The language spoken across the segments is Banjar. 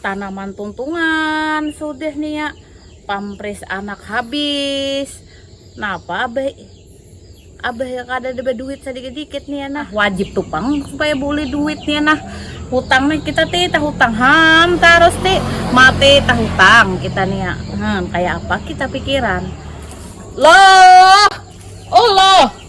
tanaman tuntungan sudah nih ya pampres anak habis napa abah abah ya kada ada duit sedikit-dikit nih ya nah wajib tuh pang supaya boleh duit nih ya nah hutang nih kita ti tah hutang ham terus ti mati tah hutang kita nih ya hmm, kayak apa kita pikiran loh oh loh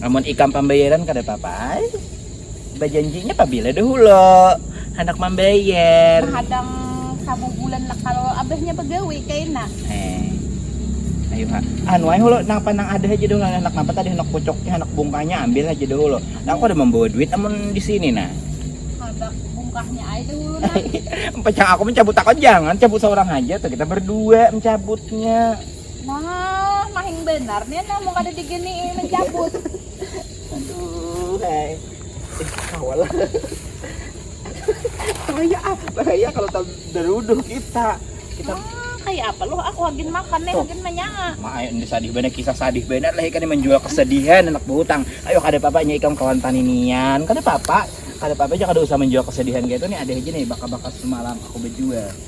Amun ikam pambayaran kada papa ai. Bajanjinya pabila dahulu handak mambayar. Mahadang sabubulan lah kalo abahnya bagawi kaina. Eh. Ayu ha. Anu ai hulu napa nang ada haja dahulu handak napa tadi handak pucuknya handak bungkahnya ambil haja dahulu. Aku kada mambawa duit amun disini nah. Handak bungkahnya ai dahulu nah. Pacang aku mancabut takon jangan cabut saurang haja tuh kita berdua mancabutnya. Nah, mahing benar nih nah mau kada digini mencabut. Aduh, hai. Eh, kawal. bahaya ah, bahaya kalau tak beruduh kita. Kita ah, kayak apa loh aku agin makan nih, agin menyaa. Ma, ini sadih benar kisah sadih benar lah ikan menjual kesedihan anak berhutang. Ayo kada apa-apa nya ikam kawan paninian. Kada apa-apa. Kada apa-apa aja kada usah menjual kesedihan gitu nih ada aja nih bakal-bakal semalam aku berjual.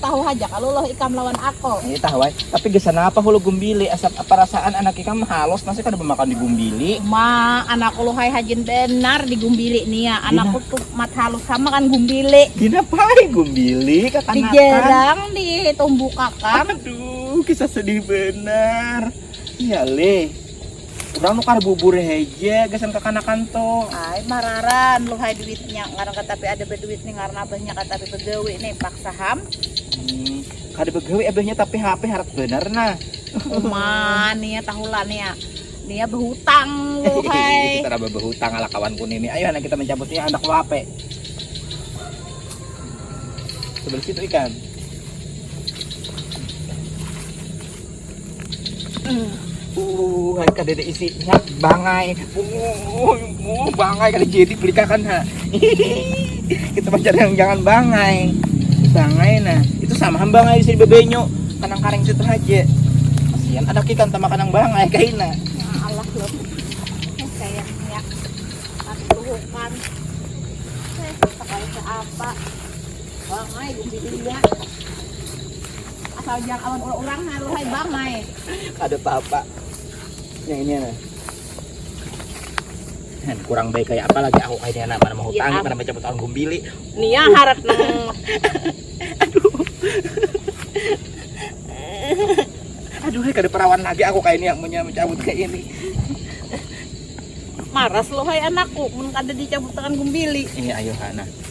tahu aja kalau loh ikam lawan aku ini tahu ay. tapi gesan apa hulu gumbili asap perasaan anak ikam halus masih kada memakan di gumbili ma anak lu hai hajin benar di gumbili nih ya anakku tuh mat halus sama kan gumbili dina pai gumbili kakak di gerang di tumbuh kakak aduh kisah sedih benar iya leh Urang nu kada bubur haja gasan kakanakan tu. Ay, mararan luhai duitnya. Ngaran katapi ada baduit nih ngaran abahnya katapi bagawi nih paksa ham. Hmm, kada bagawi abahnya tapi HP harat benar nah. Uma, nih ya tahulah nih ya. Nih ya berhutang luhai. Kita raba berhutang ala kawanku nih. nih. Ayo anak kita mencabutnya anak lu HP. Sebelah situ ikan. Uh, hari kada ada isinya, bangai. Uh, uh, bangai kada jadi pelikakan ha. Kita pacar yang jangan bangai. Bangai nah, itu sama ham bangai di sini bebenyo, kanang karing situ aja. Kasihan ada ikan sama kanang bangai kaina. Ya Allah loh, kayak minyak, tapi tuhukan. Saya pakai apa? Bangai di sini ya. asal jang awan ulah urang halu hai bang hai kada papa yang ini nah Hen, kurang baik kayak apa lagi aku kayak anak mana menghutangi mana baca butuh gumbili nih ya harap nang aduh aduh kada perawan lagi aku kayak ini yang punya mencabut kayak ini maras lo hai anakku mun kada dicabut tangan gumbili ini ayo anak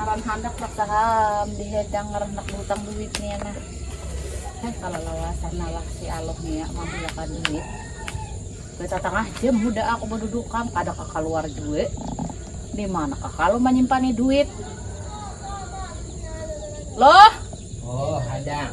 ngaran handak mataram di hidang ngaran handak berhutang duit nih nah eh kalau lawasan nalah si aloh nih ya mambilakan duit kita tengah jam muda aku berdudukan kada keluar juga di mana kalau menyimpan duit loh oh hadang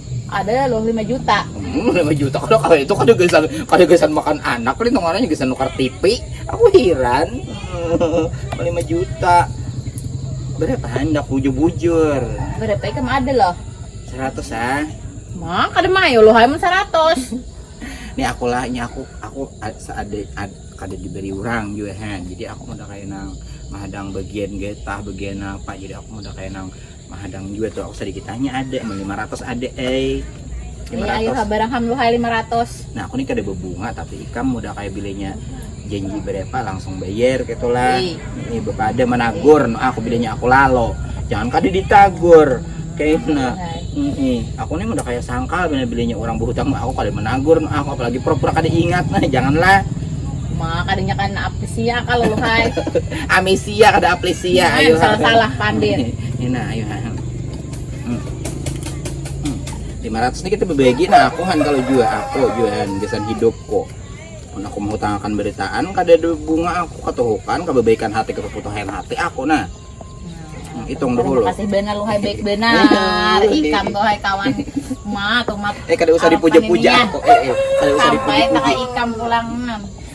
Ada loh lima juta. Hmm, lima juta kalau kalau itu kada gesan kada gesan makan anak kali nongananya gesan nukar TV. Aku hiran. lima juta. Berapa hendak bujur-bujur? Berapa ikam ada loh? Seratus ah. Mah kada mayo loh amun seratus. ini aku lah, ini aku aku ada ada kada diberi orang juga kan. Jadi aku udah kayak nang mahadang bagian getah, bagian apa. Jadi aku udah kayak nang mahadang jua tuh aku sedikit tanya ada emang 500 ada eh 500 iya ayo barang ham lu hai 500 nah aku nih kada berbunga tapi ikam udah kayak bilenya janji berapa langsung bayar gitu lah ini bapak ada menagur no, aku bilenya aku lalo jangan kada ditagur kayak nah ini aku nih udah kayak sangkal bila bilenya orang berhutang aku kada menagur no, aku apalagi pura-pura kada ingat nah janganlah maka kadanya kan apa sih ya kalau lu hai amisi Iya kada aplisia nah, ayo salah salah pandir nah ayo hmm. hmm. lima ratus ini kita berbagi nah aku han kalau jual aku jualan gesan hidup kok nah, aku mau tangakan beritaan kada ada bunga aku katuhukan kebaikan hati keputuhan hati aku nah hitung nah, dulu. Kasih benar lu hai baik benar. Ikam tuh hai kawan. Ma tuh mat. Eh kada usah dipuja-puja kok. Eh, eh kada usah dipuja-puja. Sampai ikam pulang.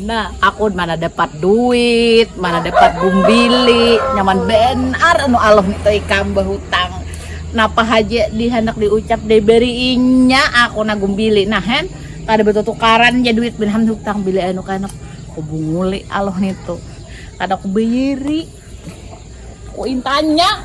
Nah, aku mana dapat duit, mana dapat bumbili, nyaman benar anu aluh itu ikam bahutang. Napa haja dihandak diucap diberiinya aku na gumbili. Nah, hen, kada batutukaran ja duit bin hutang bila anu kaya anak kubunguli aluh nitu. Kada kubayari, kuintanya.